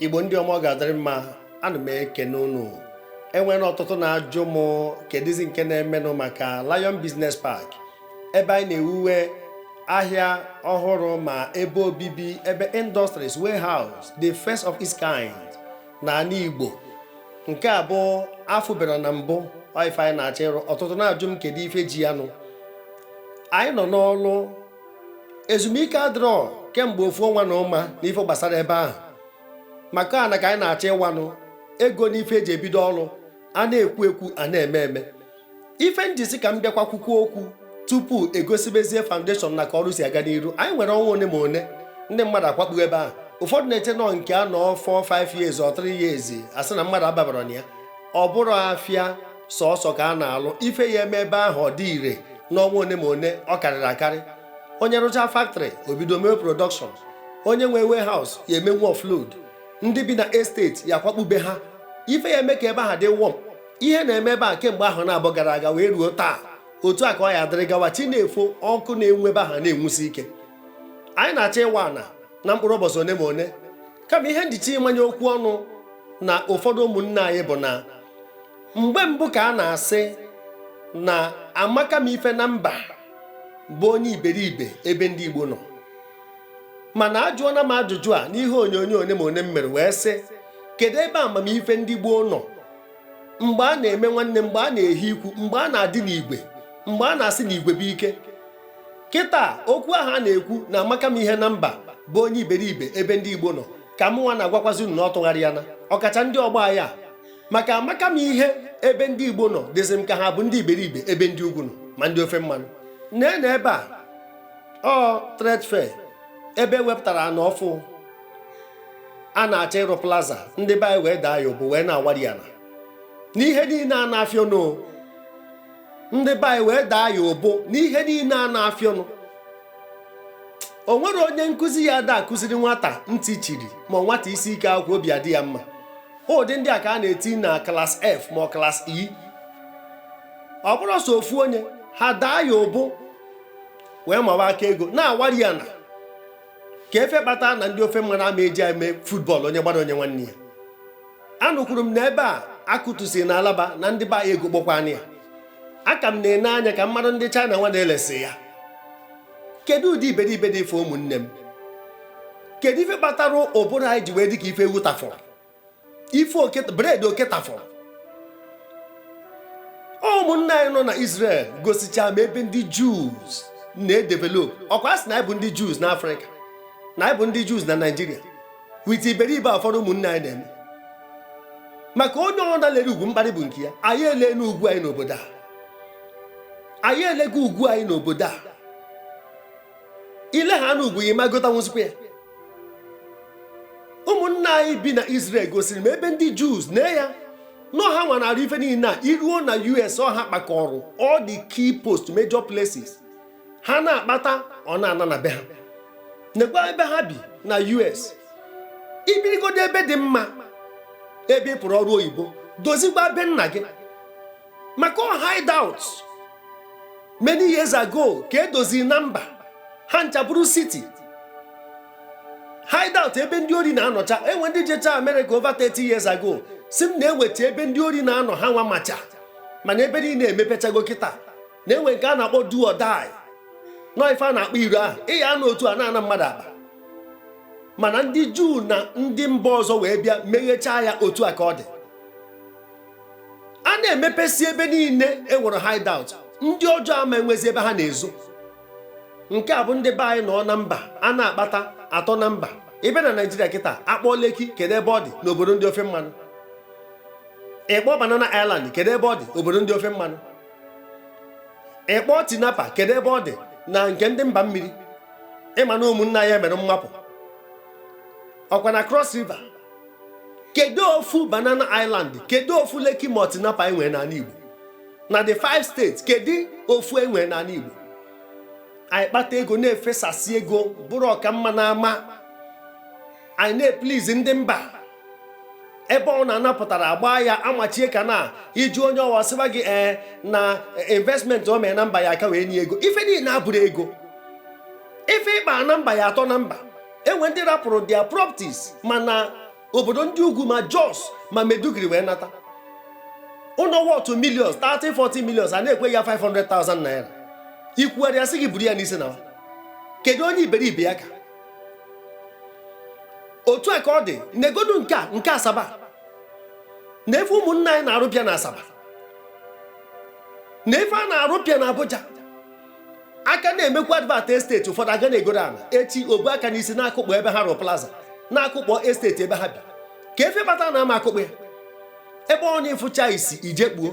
igbo ndị ọma ọ ga-adịrị mma ana m ekene unu enwere ọtụtụ na-ajụ m kedụzi nke na-emenụ maka Lion Business Park ebe anyị na-ewuwe ahịa ọhụrụ ma ebe obibi ebe industries warehouse the first of its kind na ana igbo nke a bụ afụbara na mbụ ife anyị na-achọ ịrụ ọtụtụ na-ajụ m kedu ife ji ya nụ anyị nọ n'ọlụ ezumike adịrọ kemgbe ofu ọnwa na ụma n'ife gbasara ebe ahụ maka ana ka anyị na-achọ ịwanụ ego n'ife eji ebido ọrụ a na-ekwu ekwu a na-eme eme ife m ji sị ka m bịakwa kwukwuo okwu tupu egosibezie foundation na ka ọrụ si aga n'iru anyị nwere ọnwa one ma one ndị mmadụ akwakpu ebe ahụ ụfọdụ na-eche na ọ nke a nọọ 4 5 years or 3 years asị na mmadụ ababarọ na ya ọ bụrọ afịa sọsọ ka a na-alụ ife ya eme ebe ahụ ọ dị ire n'ọnwa one ma one ọ karịrị akarị onye rụcha factory o bido mewe production onye nwe warehouse ya emewe offload ndị bi na estate ya akwakpu be ha ife ya eme ka ebe ahụ dị warm ihe na-eme ebe a kemgbe ahọ naabọ gara aga wee ruo taa otu a ka ọ ya adịrị gawa chi na-efo ọkụ na-enwu ebe ahụ na-enwusi ike anyị na-achọ ịwa ana na mkpụrụ ụbọsị one ma one kama ihe m ji chọọ ịmanye okwu ọnụ na ụfọdụ ụmụnne anyị bụ na mgbe mbụ ka a na-asị na amaka m ife na mba bụ onye iberibe ebe ndị Igbo nọ mana ajụọna m ajụjụ a n'ihe onyonyo one ma one m mere wee sị kedu ebe amamife ndị gboo nọ mgbe a na-eme nwanne mgbe a na-ehi ikwu mgbe a na-adị n'igwe mgbe a na-asị na igwe bụ ike kịta okwu ahụ a na-ekwu na amaka m ihe na mba bụ onye iberibe ebe ndị igbo nọ ka mụnwa na-agwakwazi unu na ọ tụgharịana ọkacha ndị ọgbọ anyị a maka amaka m ihe ebe ndị igbo nọ dịzị m ka ha bụ ndị iberibe ebe ndị ugwu nọ ma ndị ofe mmanụ nee na ebe a ọ trade fair ebe e wepụtara ana ọfụụ a na-achọ ịrụ plaza ndị be anyị wee daa ya ụbụ wee na-awari ana n'ihe niine a na-afịa ọnụ ndị be anyị wee daa ya ụbụ n'ihe niine a na-afịa ọnụ o nwere onye nkụzi ya ada akụziri nwata ntị chiri ma nwata isi ike akwụkwọ obi adị ya mma ụdị ndị a ka a na-eti na class F ma class E ọ bụrụ sọ ofu onye ha daa ya ụbụ wee mawa aka ego na-awari ana ka ife kpata na ndị ofe mmanụ ama eji eme football onye gbara o nye nwanne ya anụkwuru m na ebe a akụtụsi na Alaba na ndị be anyị egokpọkwana ya aka m na-ene anya ka mmadụ ndị China nwa na-elesi ya kedu ụdị iberibe dị ife ụmụnne m kedu ife kpatara ụbụrụ anyị ji wee dị ka ife ewu tafụrụ ife oke bred oke tafọrọ ụmụnna anyị nọ na Israel gosicha m ebe ndị Jews na-edevelop ọkwa asị na anyị bụ ndị Jews na Afrịka na anyị bụ ndị Jews na Naịjirịa wit iberibe ụfọdụ ụmụnne anyị na-eme maka onye ọbụna lere ugwu mkparị bụ nke ya anyị elego ugwu anyị n'obodo a anyị elego ugwu anyị n'obodo a ile ha na ugwu gị ị ma gotanwuzikwa ya ụmụnna anyị bi na Israel gosiri m ebe ndị Jews na ya nọ ha nwa na-arụ ife niile a iruo na US ọ ha kpakọrọ all the key post major places ha na-akpata ọ na-ana na be ha nekwa ebe ha bi na US ibirigodo ebe dị mma ebe ị pụrụ ọrụ oyibo dozikwa be nna gị maka ọ hideout many years ago ka edoziri na mba ha ncha bụrụ city hideout ebe ndị ori na-anọcha enwe ndị jecha Amerịka over 30 years ago sị m na enwecha ebe ndị ori na-anọ ha nwa macha mana ebe niile emepechago kịta na enwe nke a na-akpọ do or die na ọ ife a na-akpọ iro ahụ ị ya anọ otu a na-ana mmadụ akpa mana ndị juu na ndị mba ọzọ wee bịa meghechaa ya otu a ka ọ dị a na-emepesi ebe niile e nwere hideout ndị ọjọọ ama enwezi ebe ha na-ezo nke a bụ ndị be anyị nọ na mba a na-akpata atọ na mba ebe na naijiria kịta akpọọ Lekki kedu ebe ọ dị n'obodo ndị ofe mmanụ ị kpọọ banana island kedu ebe ọ dị obodo ndị ofe mmanụ ị kpọọ tinapa kedu ebe ọ dị na nke ndị mba mmiri ị ma na ụmụnna ya mere mmapụ ọkwa na cross river kedu ofu banana island kedu ofu Lekki ma tinapa enwere n'ala igbo na the five states kedu ofu enwere n'ala igbo anyị kpata ego na-efesasị ego bụrụ ọka mma na ama anyị na-eplizi ndị mba ebe ọ na-anapụtara agba ya amachie ka na ịjụ onye ọwa sịba gị ee eh, na investment o mee na mba ya aka wee nye ego ife niile abụrụ ego ife ịkpa na mba ya atọ na mba enwe ndị rapụrụ their properties ma na obodo ndị ugwu ma Jos ma Maiduguri wee nata ụlọ worth millions 30 40 millions a na-ekwe ya 500,000 naira ikwugharịa asị gị buru ya n'isi naa kedu onye iberibe ya ka otu a ka ọ dị negodu nke a nke asaba na ife ụmụnna anyị na-arụpịa na asaba na ife a na-arụpịa na Abuja a ka na-emekwa advert esteti ụfọdụ aga na-egoro ala echi o bu aka n'isi na-akụkpọ ebe ha rụrụ plaza na-akụkpọ esteti ebe ha bi ka efe bata na ama akụkpọ ya ebe ọ na ịfụcha isi ije kpuo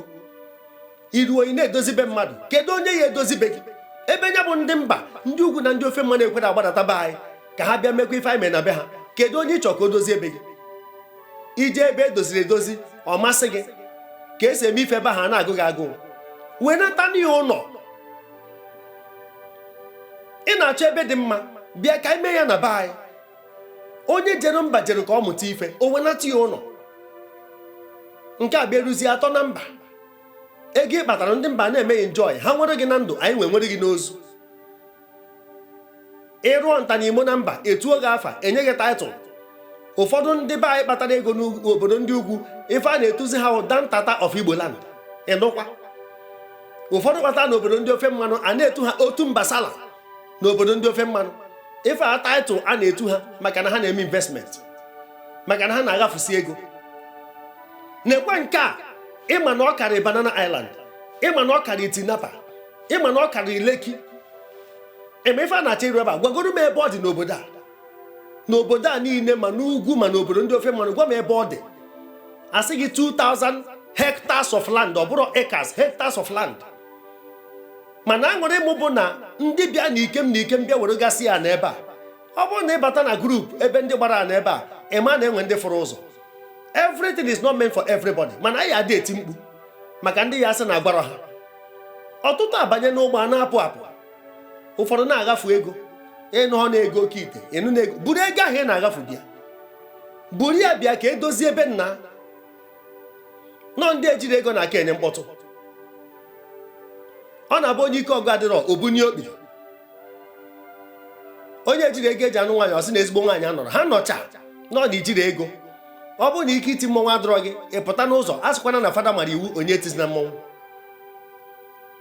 iru ị na-edozi be mmadụ kedu onye ya edozi be gị ebe nya bụ ndị mba ndị ugwu na ndị ofe mmanụ ekwerọ agbadata be anyị ka ha bịa mekwa ife anyị mee na be ha kedu onye ị chọrọ ka o dozie be gị ije ebe edoziri edozi ọ masị gị ka esi eme ife ebe ahụ a na-agụ gị agụụ wenatanụ ya ụlọ ị na-achọ ebe dị mma bịa ka anyị mee ya na be anyị onye jere mba jere ka ọ mụta ife o wenata ya ụlọ nke a bịaruzie atọ na mba ego ị kpatara ndị mba na-eme gị enjoy ha nwere gị na ndụ anyị wee nwere gị n'ozu ị rụọ nta na imo na mba etuo gị afa enye gị title ụfọdụ ndị be anyị kpatara ego n'obodo ndị ugwu ife a na-etuzi ha bụ Dantata of Igbo land ịnụkwa ụfọdụ kpatara n'obodo ndị ofe mmanụ a na-etu ha Otunba sala n'obodo ndị ofe mmanụ ife a title a na-etu ha maka na ha na-eme investment maka na ha na-aghafusi ego neekwe nke a ịma na ọ karị Banana Island ịma na ọ karị Tinapa ịma na ọ karị Lekki eme ife a na-achọ ịrụ ebe a gwagoro m ebe ọ dị n'obodo a n'obodo a niile ma n'ugwu ma n'obodo ndị ofe mmanụ gwa m ebe ọ dị a sị gị 2000 hectares of land ọ bụrọ acres hectares of land mana aṅụrị m bụ na ndị bịa na ikem na ikem bịa weregasịa ana ebe a ọ bụrụ na ịbata na group ebe ndị gbara ana ebe a ịma na enwe ndị fụrụ ụzọ everything is not meant for everybody mana anyị adị eti mkpu maka ndị ya asị na agwarọ ha ọtụtụ abanye n'ụgbọ a na-apụ apụ ụfọdụ na-aghafu ego ị nọ na-ego oke ite ị nọ na-ego buru ego ahụ ị na-aghafu bịa buru ya bịa ka edozie ebe nna nọ ndị ejiro ego na-aka enye mkpọtụ ọ na-abụ onye ike ọgụ adịrọ o bunie okpi onye ejiro ego eji anụ nwaanyị ọ sị na ezigbo nwaanyị anọrọ ha nọcha nọ na ijiro ego ọ bụrụ na ike iti mmọnwụ adịrọ gị ị pụta n'ụzọ asịkwana na fada mara iwu onye etizina mmọnwụ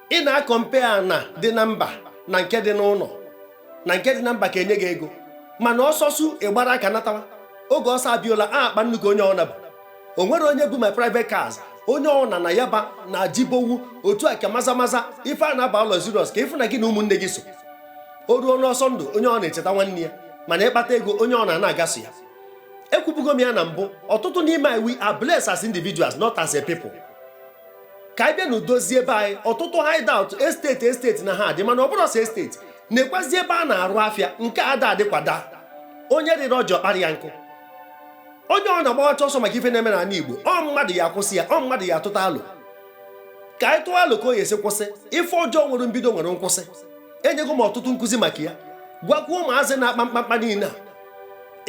ị na-compare ana dị na mba na nke dị n'ụlọ na nke dị na mba ka enye gị ego mana ọsọ sụ ị gbara aka natawa oge ọsọ Abiola akpa nnu ka onye ọna bu o nwero onye bu ma private cars onye ọna na Yaba na Jibowu otu a ka Maza Maza ife a na-aba bụ luxurious ka ịfụ na gị na ụmụnne gị so o ruo n'ọsọ ndụ onye ọna echeta nwanne ya mana ịkpata ego onye ọna ana-aga sọ ya ekwubugo m ya na mbụ ọtụtụ n'ime anyị we are blessed as individuals not as a people ka anyị bịanụ dozie be anyị ọtụtụ hideout estate estate na ha adị mana ọ bụrọ sọ estate neekwazi ebe a na-arụ afịa nke ada adị kwa daa onye rịrị ọjị ọ kpara ya nkụ onye ọna agbawacha ọsọ maka ife na-eme n'ala Igbo ọ mmadụ ya akwụsị ya ọ mmadụ ya atụta alo ka anyị tụọ alo ka ọ ya esi kwụsị ife ọjọọ nwere mbido nwere nkwụsị enyego m ọtụtụ nkụzi maka ya gwakwuo ụmụazị na-akpa mkpamkpa niile a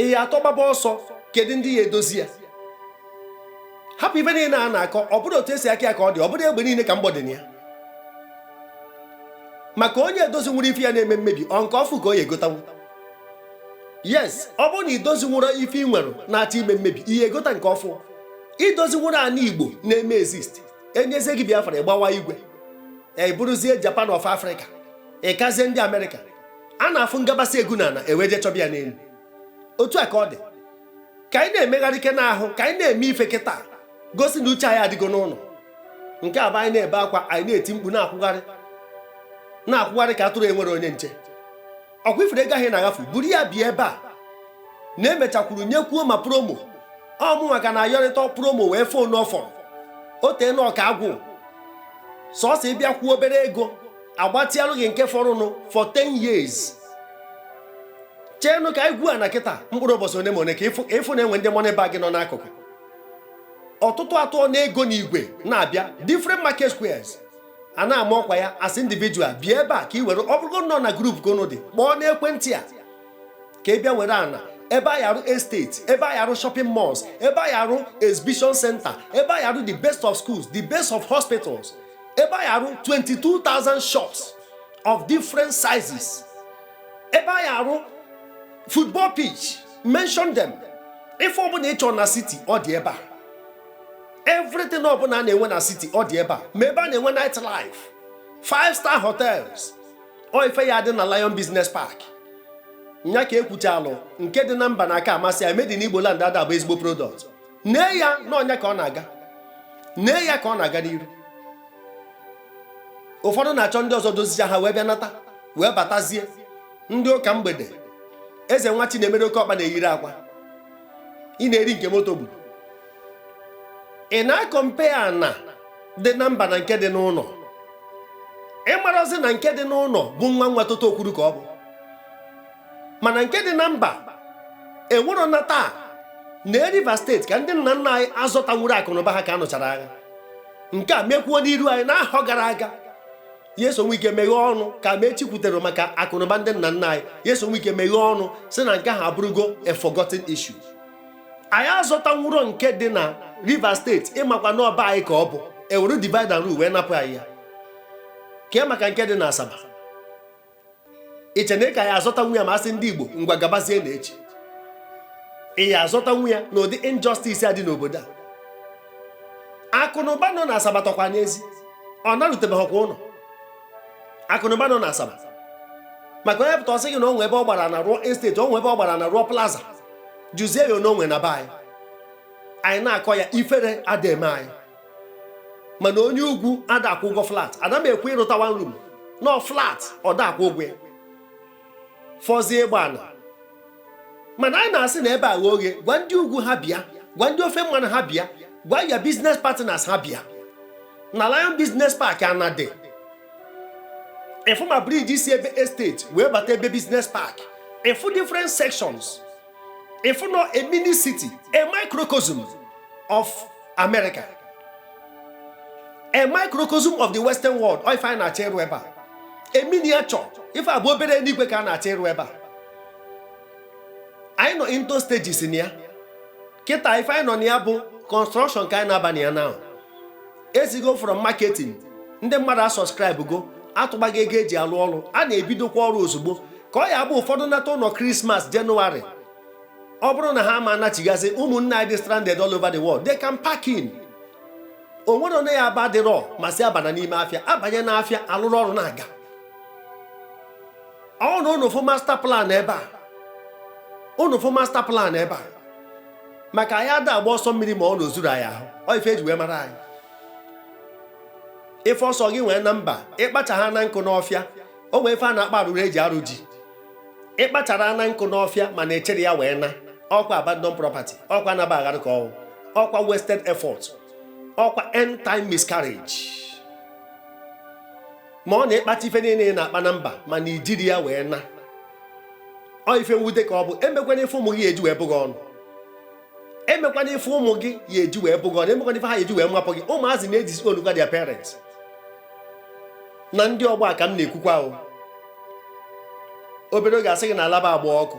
ị ya atọ gbaba ọsọ kedu ndị ya edozi ya hapụ ife niile a na-akọ ọ bụrọ otu esi akọ ya ka ọ dị ọ bụrọ egbe niile ka mgbọ dị na ya maka onye edozinwuro ife ya na-eme mmebi ọ nke ọfụ ka ọ ya egotanwu yes ọ bụrụ na idozinwuro ife ị nwere na-achọ ime mmebi ị ya egota nke ọfụ idozinwuro ana igbo na-eme exist enyezie gị biafra ịgbawa igwe anyị bụrụzie japan of africa ịkazie ndị amerịka a na-afụ ngabasị egu na ana e wee je chọba ya n'enu otu a ka ọ dị ka anyị na-emegharị ike n'ahụ ka anyị na-eme ife kịta gosi na uche anyị adịgo n'ụnọ nke a bụ anyị na-ebe akwa anyị na-eti mkpu na-akwụgharị na-akwụgharị ka atụrụ enwero onye nche ọkwa ị fụrụ ego ahụ na-aghafu buru ya bịa ebe a na emechakwuru nyekwuo ma promo ọmụ maka na ayọrịta promo wee fon n'ọfọrọ o tee na ọka agwụ sọsọ ịbịa kwụọ obere ego agbatịalụ gị nke fọrụnụ for 10 years cheenụ ka anyị gwuo na kịta mkpụrụ ụbọchị one ma one ka ịfụ na-enwe ndị money bag nọ n'akụkụ ọtụtụ atụọ na ego n'igwe na-abịa different market squares a na-ama ọkwa ya as individual bịa ebe a ka ị were ọ bụrụgo nọ na group ka unu dị kpọọ n'ekwentị a ka ị bịa were ana ebe anyị arụ estate ebe anyị arụ shopping malls ebe anyị arụ exhibition center ebe anyị arụ the best of schools the best of hospitals ebe anyị arụ 22,000 shops of different sizes ebe anyị arụ football pitch mention them ife ọbụna ị chọ na city ọ dị ebe a everything ọbụna a na-enwe na city ọ dị ebe a ma ebe a na-enwe night life five star hotels ọ ife ya adị na Lion Business Park nya ka ekwuchalụ nke dị na mba na-aka amasị ya made in Igbo land ada abụ ezigbo product nee ya na ọnya ka ọ na-aga nee ya ka ọ na-aga n'iru ụfọdụ na-achọ ndị ọzọ dozicha ha wee bịa nata wee batazie ndị ụka mgbede eze nwa chi na-emere oke ọkpa na-eyiri akwa ị na-eri nke moto gburu ị na-akọmpea ana dị na mba na nke dị n'ụnọ ị marazi na nke dị n'ụnọ bụ nwa nwa toto okwuru ka ọ bụ mana nke dị na mba enwero na taa na Rivers steeti ka ndị nna nna anyị azọtanwuro akụnụba ha ka a nụchara agha nke a mekwuo n'iru anyị n'ahọ gara aga Nyesom Wike meghee ọnụ ka ma echikwutere maka akụnụba ndị nna nna anyị Nyesom Wike meghee ọnụ sị na nke ahụ abụrụgo a forgotten issue anyị azọtanwuro nke dị na Rivers steeti ị makwa na ọ be anyị ka ọ bụ ewere divide and rule wee napụ anyị ya kee maka nke dị na Asaba i che na ị ka ya azọtanwu ya ma asị ndị Igbo ngwa gabazie na echi ị ya azọtanwu ya n'ụdị injustice a dị n'obodo a akụ na ụba nọ na Asaba tọkwa n'ezi ọ narutebeghịkwa ụnọ akụ na ụba nọ na Asaba maka onye pụta ọ sị gị na o nwe ebe ọ gbara ana rụọ estate o nwe ebe ọ gbara ana rụọ plaza jụzie ya onwe na be anyị anyị na-akọ ya ifere ada eme anyị mana onye ugwu ada akwụ ụgwọ flat ada m ekwu ịrụta one room no flat ọ da akwụ ụgwọ ya fọzie ịgba ana mana anyị na-asị na ebe a ghe oghe gwa ndị ugwu ha bịa gwa ndị ofe mmanụ ha bịa gwa your business partners ha bịa na Lion Business Park anadị ị fụ ma bridge si ebe estate wee bata ebe business park ị fụ different sections ị fụ na ọ a mini city a microcosm of america a microcosm of the western world ọ ife anyị na-achọ ịrụ ebe a a miniature ife abụ obere enuigwe ka a na-achọ ịrụ ebe a anyị nọ into stages na ya kịta ife anyị nọ na ya bụ construction ka anyị na-aba na ya now esigo from marketing ndị mmadụ asubscribego atụbago ego eji arụ ọrụ a na-ebidokwa ọrụ ozugbo ka ọ ya-abụ ụfọdụ nata ụnọ Christmas January ọ bụrụ na ha ama anachigazi ụmụnne anyị dị stranded all over the world they can pack in o nwere onye ya aba dịrọ ma si abana n'ime afịa abanye n'afịa alụrụ ọrụ na-aga ọ na unu fụ master plan ebe a unu fụ master plan ebe a maka anyị ada agba ọsọ mmiri ma ọ na o zuru anyị ahụ ọ ife eji wee mara anyị ife ọ sọ gị nwee na mba ị kpacha ha na nkụ n'ọfịa o nwee ife a na-akpọ arụrụ eji arụ ji ị kpachara na nkụ n'ọfịa mana ị chịrọ ya wee naa ọkwa abandon property ọkwa anaba aghara ka ọ wụ ọkwa wasted effort ọkwa end time miscarriage ma ọ na ị kpata ife niile ị na-akpa na mba mana i jirọ ya wee naa ọ ife mwute ka ọ bụ emekwana ife ụmụ gị ya-eji wee bụ gị ọnụ emekwana ife ụmụ gị ya-eji wee bụ gị ọnụ emekwana ife ha ya-eji wee mapụ gị ụmụazị na-edisownkwa their parents na ndị ọgbọ a ka m na-ekwukwa o obere oge a sị gị na Alaba agbaa ọkụ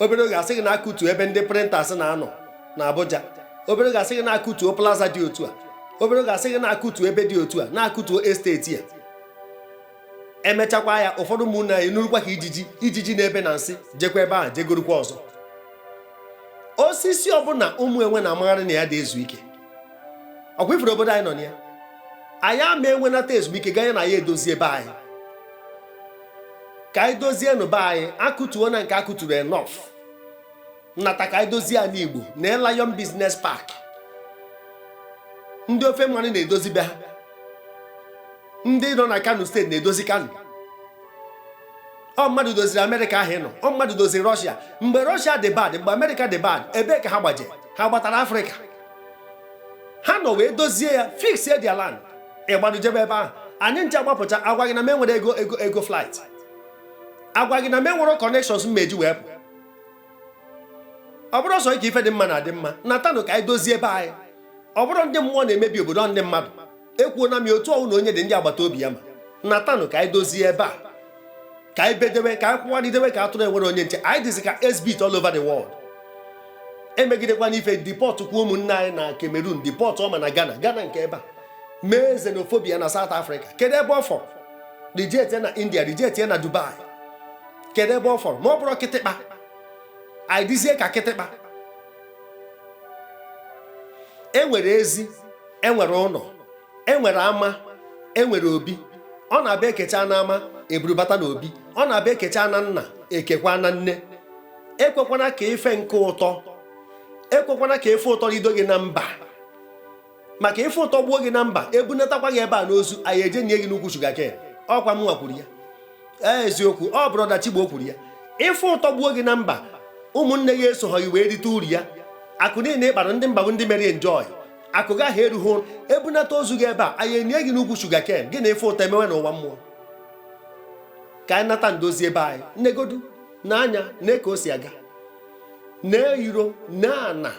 obere oge a sị gị na akụtuo ebe ndị printers na-anọ na Abuja obere oge a sị gị na akụtuo plaza dị otu a obere oge a sị gị na akụtuo ebe dị otu a na akụtuo estate a emechakwa ya ụfọdụ ụmụnne anyị enurukwa ka ijiji ijiji na-ebe na nsị jekwa ebe ahụ jegorukwa ọzọ osisi ọbụla ụmụ enwe na-amagharị na ya ada ezu ike ọkwa ị fụrụ obodo anyị nọ na ya anyị ama enwenata ezumike ganye na anyị edozie be anyị ka anyị dozienụ be anyị akụtuo na nke akụturu enough nata ka anyị dozie ani Igbo na Lion Business Park ndị ofe mmanụ na-edozi be ha ndị nọ na Kano State na-edozi Kano ọ mmadụ doziri Amerịka ahụ ị nọ ọ mmadụ doziri Rọshia mgbe Rọshia dị bad mgbe Amerịka dị bad ebee ka ha gbaje ha gbatara Afrịka ha nọ wee dozie ya fixie their land ị gbadụ jebe ebe ahụ anyị ncha agbapụcha a gwa gị na m enwerọ ego flight a gwa gị na m enwerọ connections m ma-eji wee pụ ọ bụrụ ọsọ ike ife dị mma na-adị mma natanụ ka anyị dozie ebe anyị ọ bụrụ ndị mmụọ na-emebi obodo ndị mmadụ ekwuo na m ya otu ọnwụ na onye dị ndị agbata obi ya ma natanụ ka anyị dozie ebe a ka anyị bedewe ka anyị kwụgharịdewe ka atụrụ enwerọ onye nche anyị dịzi ka exhibit all over the world emegidekwana ife deport kwuo ụmụnne anyị na Cameroon deportụọ ma na Ghana Ghana nke ebe a mee xenophobia na South Africa kedu ebe ọ fọrọ reject na India reject na Dubai kedu ebe ọ fọrọ ma ọ bụrọ kịtịkpa anyị dịzie ka kịtịkpa e nwere ezi e nwere ụnọ e nwere ama e nwere obi ọ na-abụ ekecha na ama eburubata na obi ọ na-abụ ekecha na nna ekekwa na nne ekwekwana ka ife nke ụtọ ekwekwana ka ife ụtọ rido gị na mba maka ife ụtọ gbuo gị na mba ebunatakwa gị ebe a n'ozu anyị eje nie gị n'ukwu sugarcane ọkwa mụnwa kwuru ya ee eziokwu ọ brother Chigbo kwuru ya ife ụtọ gbuo gị na mba ụmụnne gị esoghọ gị wee rite uru ya akụ niile ị kpara ndị mba bụ ndị mere enjoy akụ gị ahụ erughị ụnọ ebunata ozu gị ebe a anyị enie gị n'ukwu sugarcane gị na ife ụtọ emewe n'ụwa mmụọ ka anyị nata ndozi ebe anyị negodu na anya nee ka o si aga nee iro nee ana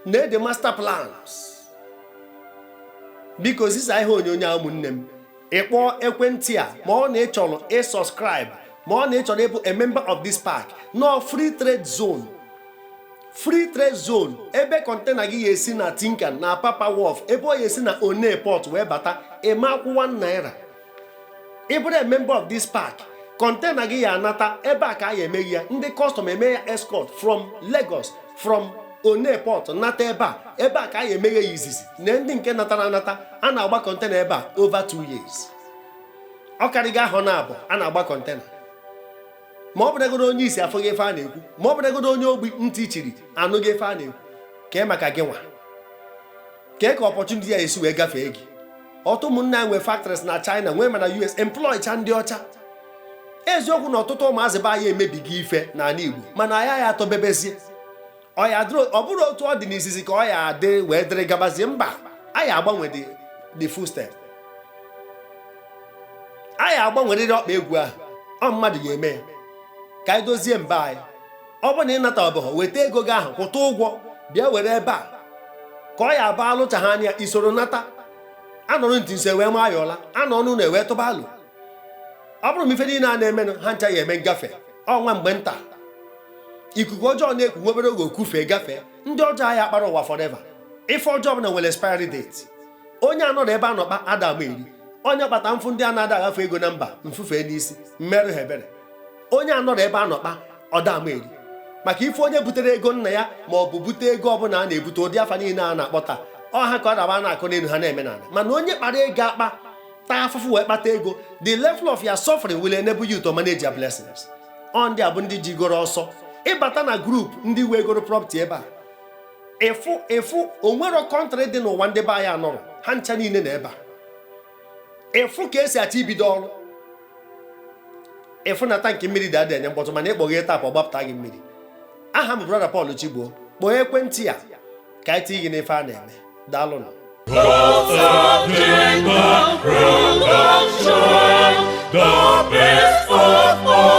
nee the master plans biko zisa ihe onyonyo a ụmụnne m ị kpọọ ekwentị a ma ọ na ị chọrọ ịsubscribe ma ọ na ị chọrọ ịbụ a member of this park nọ free trade zone free trade zone ebe kọntena gị ya esi na Tin Can na Apapa Wharf ebe ọ ya esi na Onne Port wee bata ị ma akwụ one naira ị bụrụ a member of this park kọntena gị ya anata ebe a ka a ya emeghe ya ndị kọstọm eme ya escort from Lagos from Onne Port nata ebe a ebe a ka a ya emeghe ya izizi na ndị nke natara anata a na-agba kọntena ebe a over two years ọ karịgo ahọ naabọ a na-agba kọntena ma ọ bụrụgodo onye isi afụghị ife a na-ekwu ma ọ bụrụgodo onye ogbi ntị chiri anụghị ife a na-ekwu kee maka gị nwa kee ka opportunity ya esi wee gafee gị ọtụtụ ụmụnne anyị nwee factories na China nwee ma na US employ cha ndị ọcha eziokwu na ọtụtụ ụmụazị be anyị emebigo ife n'ala Igbo mana anyị ya atọbebezie ọ bụrụ otu ọ dị n'izizi ka ọ ya adị wee dịrị gabazie mba a ya agbanwe the footstep a ya agbanwerịrị ọkpa egwu ahụ ọ mmadụ ya eme ya ka anyị dozie mba anyị ọ bụ na ị nata ọbụghọ weta ego gị ahụ kwụta ụgwọ bịa were ebe a ka ọ ya abụ alụchaghị anya isoro nata anọrọ ntị nso ewee maa ya ọla anọ ọnụ na ewee tụba alụ ọ bụrụ m ife niile a na-emenụ ha ncha ya eme ngafe ọ nwa mgbe nta ikuku ọjọọ na-eku nwa obere oge o kufee gafee ndị ọjọọ a ya akpara ụwa forever ife ọjọọ ọbụla nwere expiry date onye anọrọ ebe a nọkpa ada ama eri onye kpata mfụ ndị a na-ada agafe ego na mba mfufe n'isi mmerụ ha ebere onye anọrọ ebe a nọ kpa ọ da ama eri maka ife onye butere ego nna ya ma ọ bụ bute ego ọbụla a na-ebute ụdị afa niile a na-akpọ taa ọ ha ka ọ daba a na-akọ n'elu ha na-eme n'ala mana onye kpara ego akpa taa afụfụ wee kpata ego the level of your suffering will enable you to manage your blessings ọ ndị a bụ ndị jigoro ọsọ ịbata na group ndị wegoro property ebe a ị fụ o nwerọ country dị n'ụwa ndị be anyị anọrọ ha ncha niile na ebe a ị fụ ka e si achọ ibido ọrụ ị fụ na tankị mmiri dị adị enye mkpọtụ mana ị kpọghee tap ọ gbapụta gị mmiri aha m brother Paul Chigbo kpọọ ekwentị a ka anyị tinye gị n'ife a na-eme daalụnụ The best of all.